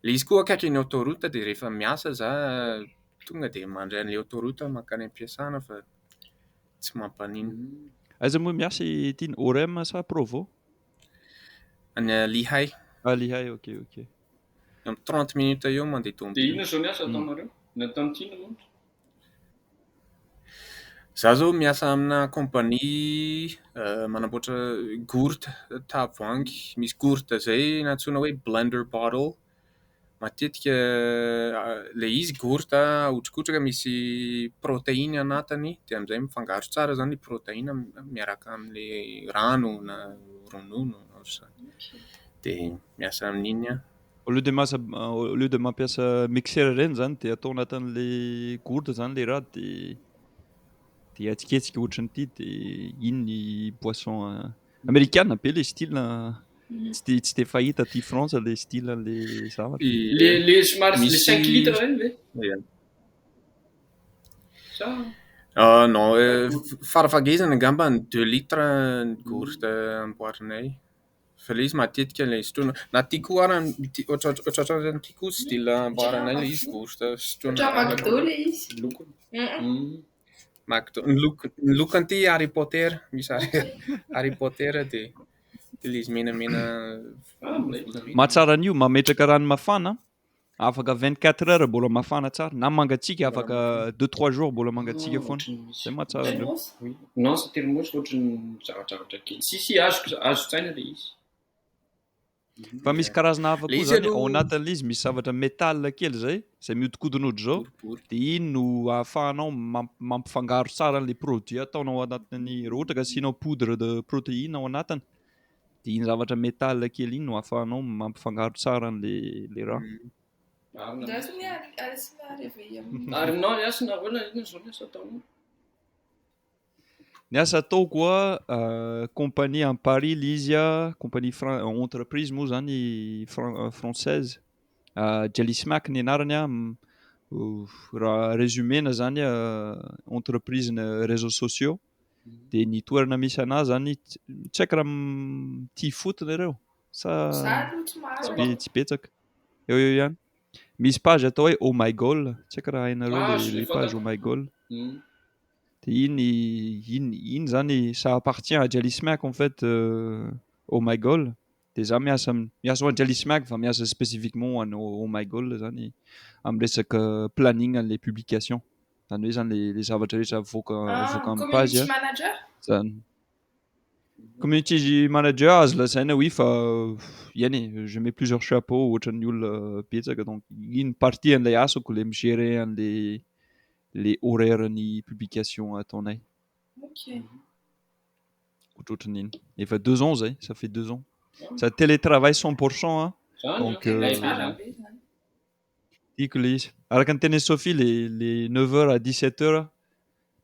le izy koa akaiky ny autoroute dia rehefa miasa za tonga dia mandray an'ilay autoroute mankany am-piasana fa tsy mampanino. Aiza moa miasa i Tiny? Orem sa Provo? Any Lihay. Ah, Lihay, ok, ok. Amin'ny 30 minutes eo mandeha tombo. Dia inona izao ny asa ataonareo? Ny ataon'i Tino moa? Za zao miasa amina compagnie euh, manamboatra gourde tavoahangy, misy gourde zay nantsoina hoe blender bottle, Matetika ilay izy gourt aotrikotrika misy proteine anatiny dia amin'izay mifangaro tsara izany ny proteine miaraka amin'ilay rano na ronono ohatra izany dia miasa amin'iny aho. Au lieu de masa au lieu de mampiasa mixeur ireny izany dia atao anatin'ilay gourde izany ilay raha dia dia ahetsiketsika ohatran'ity dia iny ny boisson Amerikana be le style tsy de tsy de fahita aty France le style an'le zavatra. Le le somary le 5 litres regny ve? Ia. Sa Ah non, farafahagelany angamba ny deux litres ny gourde amboarinay fa le izy matetika le sotroina na ty koa ara ty ohatra ohatra ohatra zany ty koa style amboarinay le izy gourde sotroina. Ohatran'ny McDo le izy. Lokony. Mac2 ny loko ny loko anty Harry Potter misy Harry Potter de le izy menamena mahatsara an'io mametraka rano mafana afaka 24 heures mbola mafana tsara na mangatsiaka afaka 2 3 jours mbola mangatsiaka foana zay mahatsara an'io non c'est tellement ohatry ny zavatra kely si si azo azo tsaina le izy Fa misy karazana hafa koa zany ao anatin'ilay izy misy zavatra métal kely izay izay mihodinkodina ohatr'izao dia iny no ahafahanao mampifangaro tsara an'ilay produit ataonao ao anatin'ny raha ohatra ka asianao poudre de protéine ao anatiny dia iny zavatra métal kely iny no ahafahanao mampifangaro tsara an'ilay raha. Arinao ny asina ahoana iny izao ny asa ataonao? Ny asa ataoko a, compagnie any Paris ilay izy a, compagnie fran- entreprise moa izany fran- française, Jellismack ny anarany a, raha résumé-na izany a, entreprise-na réseaux sociaux, dia ny toerana misy anà izany, tsy haiko raha mitia foot nareo sa tsy be- tsy betsaka, eo eo ihany. Misy page atao hoe oh my goal, tsy haiko raha hainareo ilay page oh my goal. Dia iny iny iny zany ça appartient à Djali Smiak en fait Oh my goal. Dia za miasa amin'ny miasa ho an'i Djali Smiak fa miasa spécifiquement ho an'i Oh my goal zany amin'ny resaka planning an'ilay publication. Zany hoe zany le le zavatra rehetra avoaka avoaka amin'ny page a. Zany. Community manager azo lazaina oui fa iany e, je mets plusieurs chapeaux ohatran'ny olona betsaka donc iny partie an'ilay asako le mi-gérer an'ilay le horaire ny publication ataonay Ok. otrotrn'iny efa deux ans zay ça fait deux ans sady télé travail cent pour cent an Zany Donc, an, tena euh, tsara be zany. tiako le izy araka ny tenin'i Sophie le le neuf heures à dix sept heures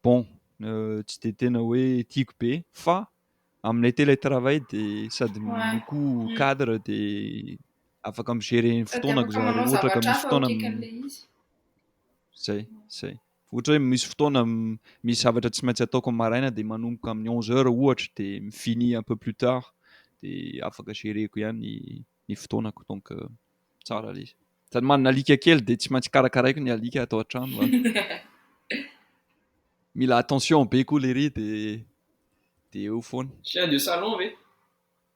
bon euh, tsy de tena hoe tiako be fa amin'ilay télé travail de sady m- Ouais. koa Mm. cadre de afaka mi-gérer ny Sady fotoanako afaka zany manao rehetra ohatra ka zavatra misy hafa fotoana atraikan'ilay izy. Zay, zay. Ohatra hoe misy fotoana misy zavatra tsy maintsy ataoko maraina dia manomboka amin'ny onze heures ohatra dia mi-finit un peu plus tard dia afaka gereko ihany ny fotoanako donc euh, tsara le izy. Sady manana alika kely dia tsy maintsy karakaraiko ny alika ato an-trano a. Mila attention be koa lery dia dia eo foana. Chien de salon ve?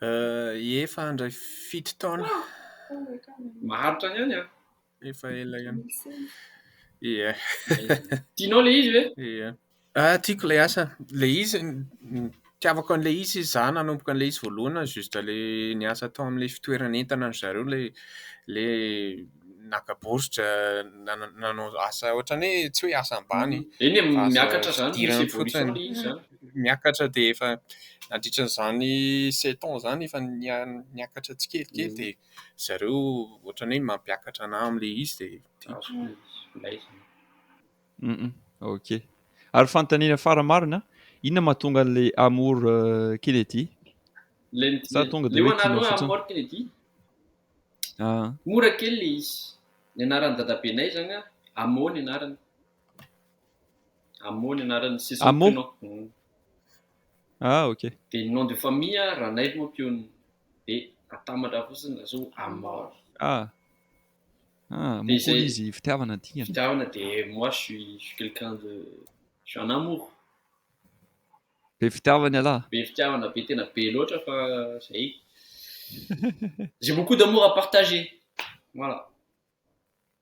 Efa handray fito taona. Maharitra ny any an? Efa ela ihany. Ie. Tianao le izy ve? Ie. Ah, tiako le asa. Le izy, tiavako an'le izy izy za nanomboka an'le izy voalohana, juste le ny asa tao am'le fitoerana entana ry zareo le le naka bourdre, nanao asa ohatran'ny hoe tsy hoe asa ambany. Eny e, miakatra zany, misy evolution le izy zany. miakatra dia efa nandritra an'izany sept ans izany efa niakatra tsikelikely dia ry zareo ohatran'ny hoe mampiakatra anà amin'ilay izy dia tiako ilay izy. Ok. Ary fanontaniana fara-marina, inona mahatonga an'ilay amour euh, Kennedy? Sa tonga dia hoe tianao fotsiny? Amour Kennedy? Ah. Mora kely ilay izy. Ny anaran'ny dadabenay izany, Amo ny anarany. Amo ny anaran'ny sisiny Amo. mpino. Mm. Ah, ok. Dia ny nom de famille a, Ranaivo moa mpionona. Dia atambatra fotsiny lasa hoe Amor. Ah. Ah, Dia moa izay- koa izy fitiavana ny dingana. Fitiavana dia moi je suis je suis quelqu'un de je suis un amour. Be fitiavana ialahy. Be fitiavana be tena be loatra fa zay. J'ai beaucoup d'amour à partager. Voilà.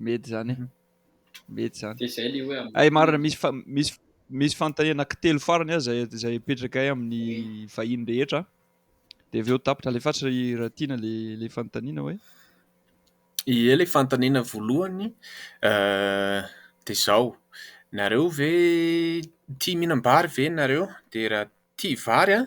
Mety izany e. Mety izany. Dia izay ilay hoe amin'ny. Hay marina misy fa- misy misy fanontaniana telo farany aza izay izay apetrakay amin'ny vahiny rehetra. Dia avy eo tapitra alefaso ry Ratiana le le fanontaniana hoe Ie le fanontaniana voalohany eh, dia izao, nareo ve tia mihinam-bary ve nareo? Dia raha tia vary an,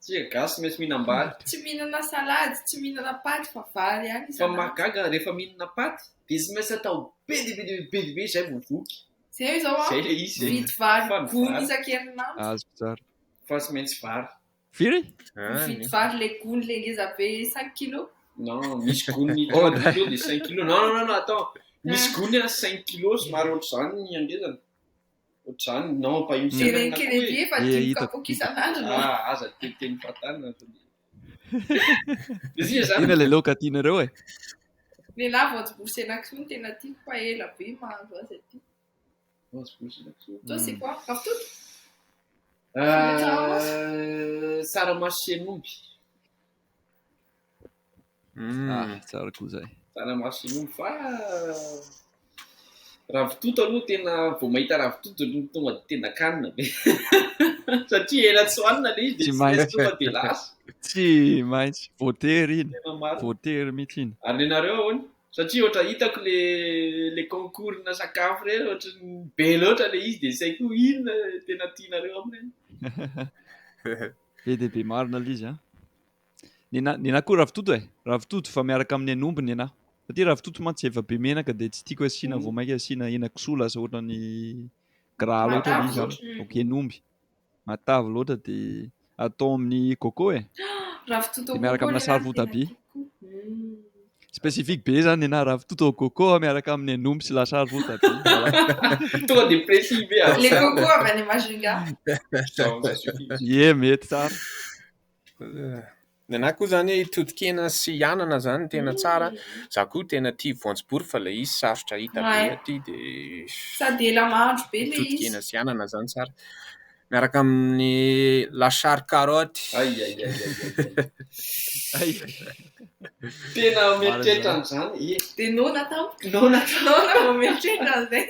Tsika gasy mety mihinam-bary. Tsy mihinana salady, tsy mihinana paty fa vary ihany isan'andro. Fa mahagaga rehefa mihinana paty dia tsy maintsy atao be dia be dia be dia be izay vao voky. Izay hoe izao an, mividy vary gony isan-kerinandro. Azoko tsara. Fa tsy maintsy vary. Firy? Mividy vary ilay gony ilay ngeza be cinq kilos. Non, misy gony quatre kilos dia cinq kilos. Non, non, non, non, attends, misy gony an cinq kilos somary ohatr'izany ny hangezany. Otrany non ampahimbo tena na koa hoe efa dimy kapoaka isan'andro no aza teny teny fatana ina le loka tianareo e le la voanjobory sy henakisoa no tena tiako fa ela be mahandro azy aty voanjobory sy henakisoa toi c'est quoi ravitoto tsaramaso sy henomby Mm. Ah, tsara koa zay. Tana maso io fa ravitoto aloha tena vao mahita ravitoto aloha tonga de tena kanina be. Satria ela tsy hoanina le izy de tsy tonga de lasa. Tsy maintsy voatery iny. Voatery mihitsy iny. Ary nenareo ahoana? Satria ohatra hitako le le concours-na sakafo reny ohatra ny be loatra le izy de saiko inona tena tianareo aminy. Be dia be marina lzy a. Nenah nenah koa ravitoto e, ravitoto fa miaraka amin'ny hen'omby nenah. Satria ravitoto mantsy efa be menaka dia tsy tiako asiana vao mainka asiana henakisoa lasa ohatran'ny gras loatra ilay izy an. Donc hen'omby matavy loatra dia atao amin'ny coco e. Dia miaraka amina sary votabia. Specifique be zany nenah ravitoto au coco miaraka amin'ny an'omby sy lasary voatabia. Tonga dia précis be ah. Le coco avy any Majunga. Ie mety tsara. Nenah koa zany totokena sy anana zany tena tsara. Za koa tena tia voanjobory fa le izy sarotra hita be aty dia. Sady ela mahandro be le izy. Totokena sy anana zany tsara. Miaraka amin'ny lachar carotte. Ay ay ay ay ay. Tena mieritreritra an'izany e. Dia noana tao. Noana tao. Noana vao mieritreritra an'izay.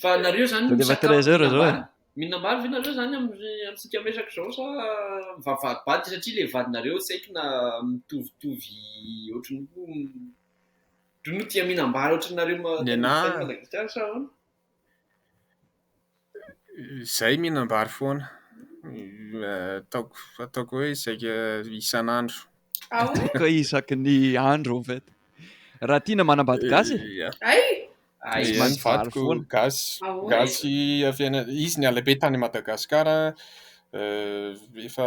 Fa nareo zany Dia efa treize heures zao e. Mihinana ambary ve nareo zany amintsika miresaka izao sa mivavahadibady satria le vadinareo tsy haiko na mitovitovy ohatran'ny hoe tia mihinam-bary ohatranareo Ny anah. Madagasikara sa ahoana? Izahay mihinam-bary foana. Ataoko ataoko hoe saika isan'andro. Ah oui? Ataoko hoe isaky ny andro en fait. Raha tiana manambady gasy e. Ia. Hay! Hay Izahay ny vary vadiko foana. gasy. Ah ouais? Gasy avy any, izy niala be tany Madagasikara, efa.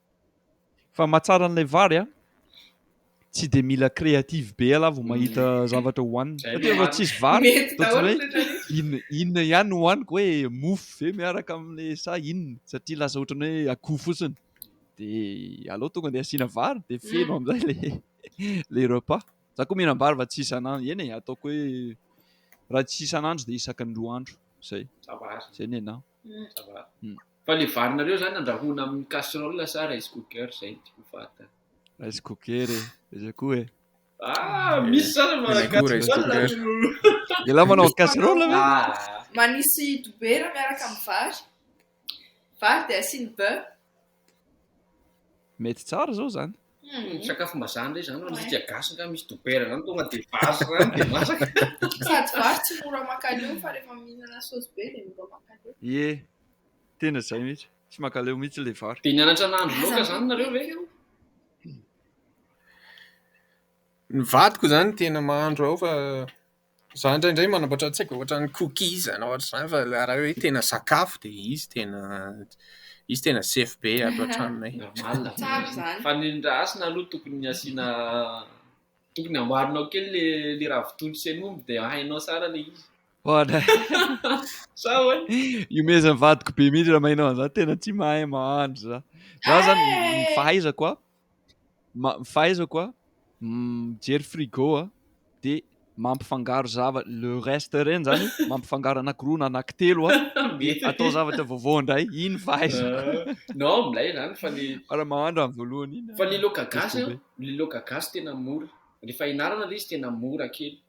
Fa mahatsara an'ilay vary a! Tsy dia mila créative be ialahy vao mahita zavatra hohanina. Satria raha tsisy vary, ohatran'ny hoe inona inona ihany no hohaniko hoe mofo ve miaraka amin'ny sa inona? Satria lasa ohatran'ny hoe akoho fotsiny. Dia aleo tonga dia asiana vary dia feno amin'izay ilay ilay repas. Izaho koa mihinam-bary fa tsy isan'andro. Eny e, ataoko hoe raha tsy isan'andro dia isaky ny roa andro, izay. Izay ny anah. Hmm, ça va. Hmm. Fa le varinareo zany andrahoina amin'ny casserole sa rice cooker zay no tiako fahantana. Rice cooker e, izy koa e. Ah, hmm. misy zany ma casserole. Ela manao casserole ve? Ah. Manisy dobera miaraka amin'ny vary. Vary dia asiany beurre. Mety tsara zao zany. Hmm, sakafom-bazaha ndray zany ho antsika gasy nga misy dobera zany tonga de vary zany de masaka. Sady vary tsy mora makaleo fa rehefa mihinana sauce be de mora makaleo. Ye, tena zay mihitsy. Tsy makaleo mihitsy le vary. De nianatra nahandro laoka zany nareo ve? Ny vadiko zany tena mahandro ao fa Za indraindray manambatra an-tsaiko ohatran'ny cookies na ohatr'izany fa raha ilay hoe tena sakafo dia izy tena izy tena sefo be ato an-tranonay. Normal Tsara izany. Fa ny indra hasina aloha tokony asiana tokony amboarinao kely le le ravitoto sy hen'omby dia hainao tsara le izy. Hoana. Sa ahoana? Iomezan'ny vadiko be mihitsy raha maheno an'izany, tena tsy mahay mahandro za. Za zany ny fahaizako a, fahaizako a mijery frigo a de mampifangaro zavatra le reste ireny zany mampifangaro anankiroa na anankitelo a de atao zavatra vaovao indray iny fahaizako no milay zany fa ny raha mahandro amin'ny voalohany iny fa ny loaka gasy ny loaka gasy tena mora rehefa ianarana le izy tena mora kely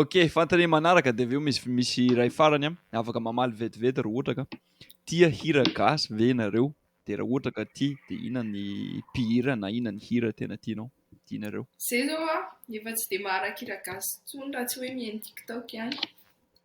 Ok, fantany manaraka dia avy eo misy misy iray farany an, afaka mamaly vetivety raha ohatra ka tia hira gasy ve ianareo? Dia raha ohatra ka tia dia inona ny mpihira na inona ny hira tena tianao, tianareo? Zay zao aho efa tsy dia maharaka hira gasy intsony raha tsy hoe mihaino tiktok ihany.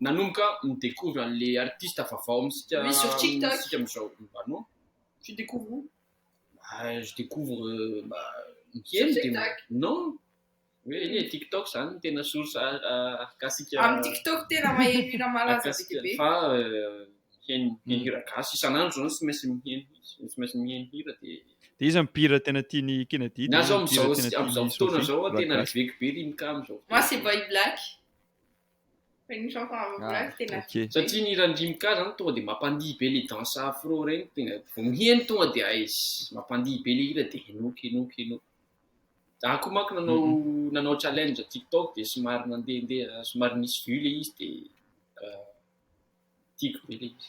nanomboka mi-decouvre an'le artiste vaovao amintsika amintsika amin'izao ah non tu découvres où? ah je découvre mba mikely de non hoe tiktok zany no tena source ahakasika amin'ny tiktok tena mahay hira malaza be dia be fa miheno miheno hira gasy isan'andro zao tsy maintsy miheno tsy maintsy miheno hira de de iza mpihira tena tian'i Kennedy na zao amin'izao amin'izao fotoana zao tena reveko be rimka amin'izao fotoana masy boy black Une chanson à vos Ah, places, tena ok. Satria ny hiran'ny Rim K zany tonga dia mampandihy be le danse afro regny tegna vao miheno tonga dia aiss mampandihy be le hira dia henoiko henoiko henoiko. Zah koa manko nanao nanao challenge tiktok dia somary nandehandeha somary nisy vue le izy dia ah, tiako be le izy.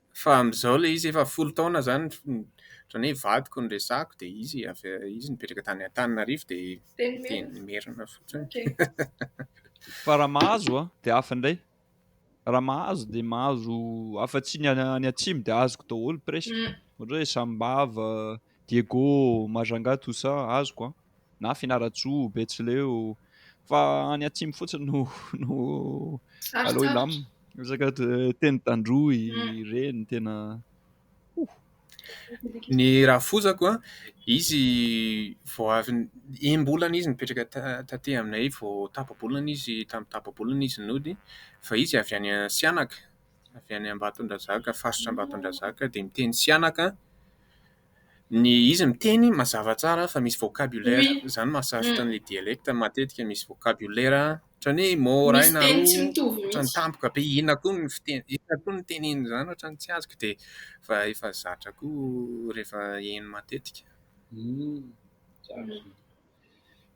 Fa amin'izao ilay izy efa folo taona izany ohatran'ny hoe vadiko no resahako dia izy avy izy nipetraka tany Antananarivo dia dia ny Merina fotsiny. Fa raha mahazo an, dia hafa indray. Raha mahazo dia mahazo hafa tsy ny any atsimo dia azoko daholo presque. Ohatra hoe sambava, Diego Majanga Toussaint azoko an! na Fianarantsoa, Betsileo, fa any atsimo fotsiny no no aleo hilamina. Resaka teny tandroy ireny tena oh! Ny rafozako an! izy vao avy enim-bolana izy nipetraka taty aminay vao tapa-bolana izy, tamin'ny tapa-bolana izy nody fa izy avy any Sihanaka. avy any Ambatondrazaka, faritra Ambatondrazaka dia miteny sihanaka. Ny izy miteny mazava tsara fa misy vocabulaire, izany no mahasarotra ny dialecte, matetika misy vocabulaire ohatran'ny hoe mot iray na roa ohatran'ny tampoka be. Inona koa ny fiteny, inona koa ny tenenin'izany ohatran'ny tsy azoko dia efa efa zatra koa rehefa heno matetika.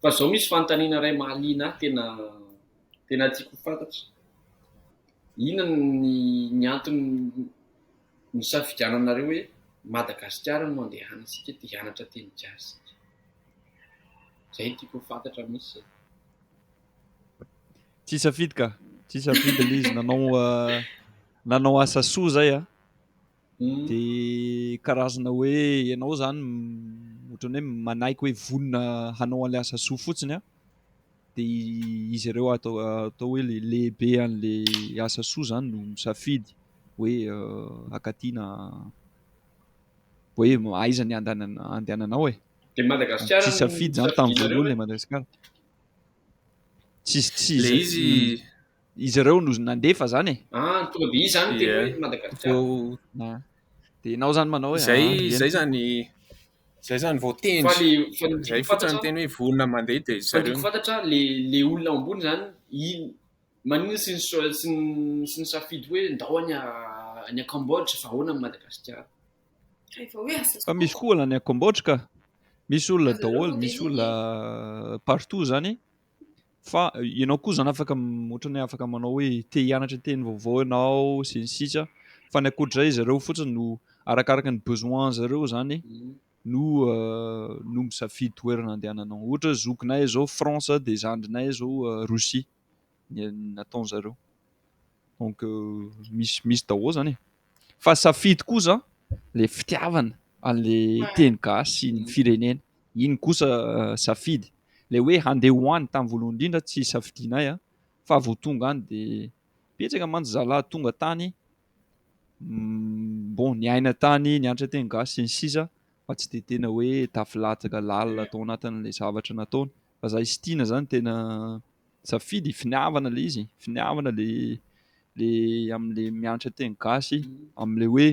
Fa zao misy fanontaniana iray mahaliana ahy tena tena tiako ho fantatra. Inona ny ny antony nisafidiananareo hoe Madagasikara no andehanantsika te hianatra teny gasy isika. Zay tiako ho fantatra mintsy zay. Tsy hisafidy ka, tsy hisafidy le izy nanao nanao asa soa zay a. Mm. De karazana hoe ianao zany m- ohatran'ny hoe manaiky hoe vonona hanao an'ilay asa soa fotsiny a. De izy ireo atao atao hoe le lehibe an'le asa soa zany no misafidy hoe euh, akaty na hoe aiza ny andanana andehananao e. De Madagasikara Tsy no safidy zany tamin'ny safidianareo voalohany hoe le Madagasikara. Tsisy tsisy le izy izy ireo no nandefa zany e. Ah, tonga de izy zany teny hoe Madagasikara. De ianao zany manao hoe zay zay zany zay zany vao teny. Fa le fa ny zay fotsiny teny hoe vonona mandeha de zay. Fa fantatra le le olona ambony zany in manina sy ny sy ny sy ny safidy hoe ndao any a any a Cambodge fa ahoana ny Madagasikara. Rehefa hoe asa. Fa misy koa olona any a Cambodge ka. Misy olona daholo, misy olona partout zany. Fa ianao koa izany afaka ohatrany hoe afaka manao hoe te hianatra teny vaovao ianao sy ny sisa fa ny ankoatr'izay izy ireo fotsiny no arakaraka ny besoin zareo izany no no misafidy toerana handehananao. Ohatra hoe zokinay izao France dia zandrinay izao Russie ny nataon'zareo. Donc misy misy daholo izany e. Fa safidy kosa le fitiavana an'le teny gasy sy ny firenena. Iny kosa safidy. Le hoe handeha ho any tamin'ny voalohany indrindra tsy safidianay a. Fa vao tonga any dia betsaka mantsy zalahy tonga tany mm, bon niaina tany, nianatra teny gasy sy ny sisa fa tsy dia tena hoe tafilatsaka lalina tao anatin'ilay zavatra nataony. fa za sy Tiana zany tena safidy finiavana le izy finiavana le le amle mianatra teny gasy amle hoe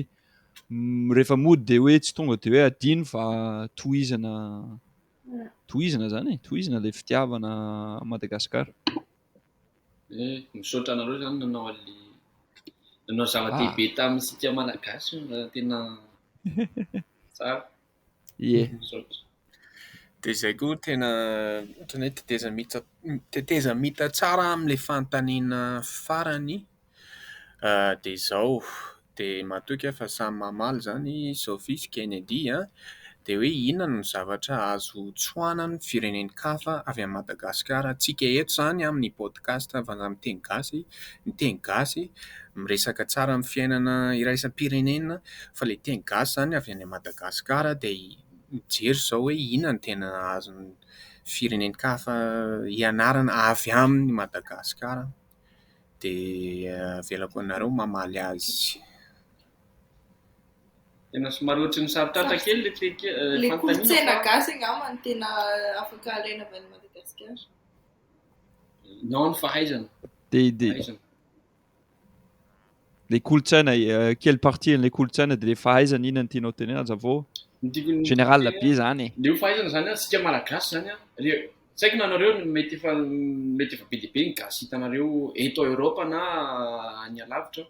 rehefa mody de hoe tsy tonga de hoe adino fa tohizana tohizana zany e tohizana le fitiavana Madagascar e misaotra anareo zany nanao anle nanao zava-dehibe ah. tamintsika malagasy tena tsara Ie. Dia izay koa tena ohatran'ny hoe tetezamita tetezamita tsara amin'ilay fanontaniana farany dia izao, dia matoky aho fa samy mamaly izany Sophie sy Kennedy an! dia hoe inona no zavatra azo tsoahanan'ny firenen-kafa avy amin'i Madagasikara? Antsika eto izany amin'ny podcast Vazaha Miteny Gasy Ny teny gasy miresaka tsara amin'ny fiainana iraisam-pirenena fa ilay teny gasy izany avy any Madagasikara dia mijery izao hoe inona no tena azon'ny firenen-kafa ianarana avy amin'i Madagasikara dia avelako anareo mamaly azy. Tena somary ohatry ny sarotratra kely ilay fehikevitra. Ilay kolontsaina gasy angamba no tena afaka alaina avy any Madagasikara. Non ny fahaizana. Dia dia le kolontsaina eh, quelle partie le kolontsaina de le fahaizana inona ny tianao tenena aza vao général be zany e. Le fahaizana zany antsika malagasy zany a le tsy haiko nanareo mety efa mety efa be dia be ny gasy hitanareo eto a Europe na any alavitra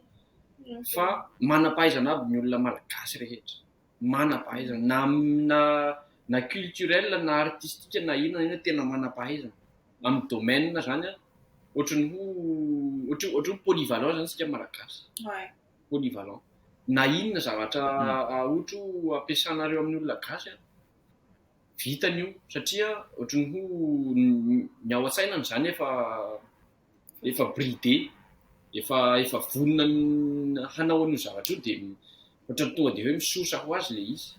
fa manam-pahaizana aby ny olona malagasy rehetra. manam-pahaizana na na culturel na artistika na inona na inona tena manam-pahaizana amin'ny domaine izany an, ohatran'ny ho ohatran'ny ohatran'ny hoe polyvalent izany isika Malagasy, polyvalent na inona zavatra ohatra hoe ampiasanareo amin'ny olona gasy an, vitany io satria ohatran'ny ho ny ao an-tsainany izany efa efa bridé, efa efa vonona amin'ny hanao an'io zavatra io dia ohatran'ny tonga dia hoe misosa ho azy ilay izy.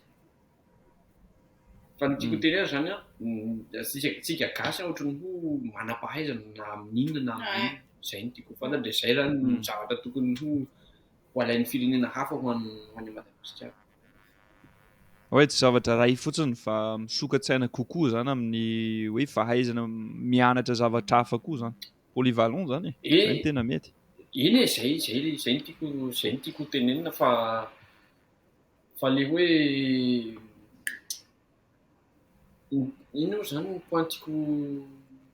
Fa ny tiako hoteny azy izany an, tsika tsika gasy an ohatran'ny ho manam-pahaizana na amin'inona na amin'inona, izay no tiako ho fantatra dia izay izany no zavatra tokony ho ho alain'ny firenena hafa ho an'i ho an'i Madagasikara. Oe tsy zavatra iray fotsiny fa misokatsaina kokoa zany amin'ny hoe fahaizana mianatra zavatra hafa koa zany. Polyvalent zany e! Zay no tena mety. Eny e, zay zay zay no tiako zay no tiako hotenenina fa fa le hoe inona moa zany ny point tiako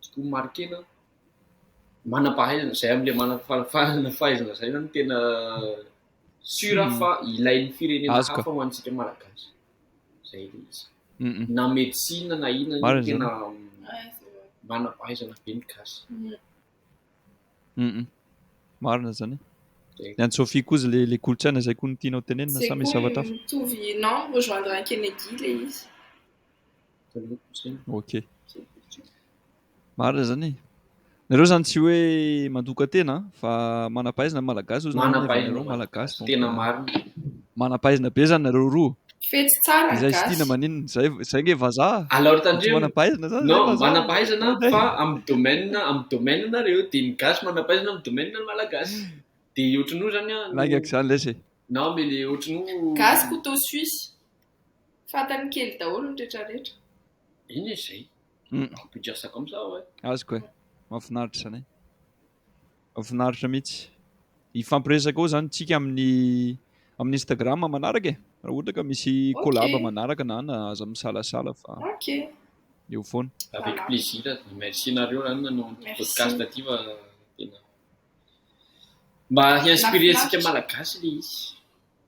tiako ho marquena? Manam-pahaizana, zay am'le manam-pahaizana zay zany no tena. Sur hmm. fa ilain'ny firenena hafa ho antsika malagasy. Zay ilay izy. Hmm, hmm. Na médecine na inona no tena manam-pahaizana be ny gasy. Marina zany. Ny an'i Sophie koa le le kolontsaina zay koa ny tianao tenenina sa misy zavatra hafa? Mitovy non rejoindre Kennedy le izy. ok marina zany nareo zany tsy hoe mandoka tena fa manapahaizina ny malagasy ozy nareo malagasy tena marina manapahaizina be zany nareo roa fetsy tsara izay stina maninona zay zay nge vazaha alors tandreo manapahaizina zany non manapahaizana fa amin'ny domaine amin'ny domaine nareo de ny gasy manapahaizina amin'ny domaine ny malagasy de ohatran'io zany a laingaka zany lesy non mais le ohatran'io gasy couteau suisse Fantany kely daholo ny rehetra rehetra. Eny e zay. Ampigasako am zaho e. Azoko e. Mahafinaritra izany e. Mahafinaritra mihitsy. Hifampiresaka eo izany tsika amin'ny amin'ny Instagram manaraka e. Raha ohatra ka misy collab manaraka na na aza misalasala fa. Ok. Eo foana. Avec plaisir. Merci nareo raha nanao an'ity podcast ity fa tena mba hi-inspirer antsika malagasy le izy.